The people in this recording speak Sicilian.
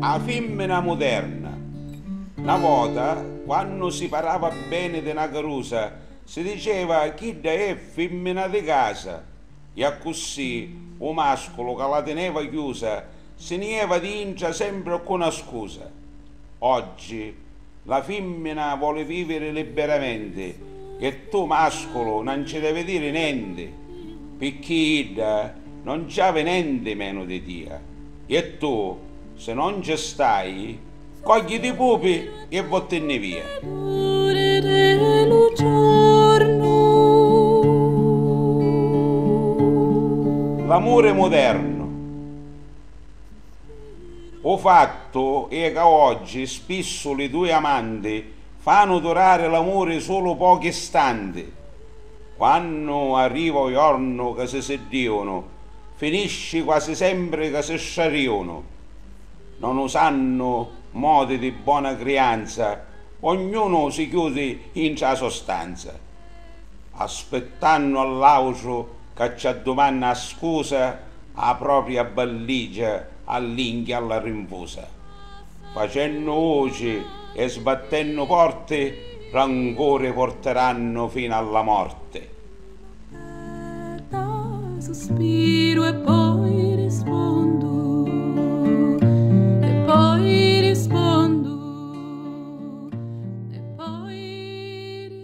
A fimmina muderna. Na vota, quannu si parava beni di na carusa, si diceva chidda è fimmina di casa, e accussì u masculu ca la tineva chiusa si ni jeva dintra sempri ccu na scusa. Oggi. La fimmina voli viviri libbiramenti e tu masculu na nci devi diri nenti picchì idda non nci avi nenti menu di tia e tu si non nci stai cogliti i pupi e vottinni via. L'amuri mudernu. U fattu è ca oggi spissu li dui amanti fanu durari l'amuri sulu pochi istanti. Quannu arriva u jornu ca si siddìunu, finisci quasi sempri ca si strarìunu. Non usannu modi di bona crianza, ognunu si chiudi intra a so stanza. aspettannu a l'autru ca ci addumanna a scusa a propria balligia all'inchia alla rinfusa, facennu vuci e sbattennu porti rancuri porterannu finu alla morti. Suspiru e poi rispondu e poi rispondu e poi rispondu.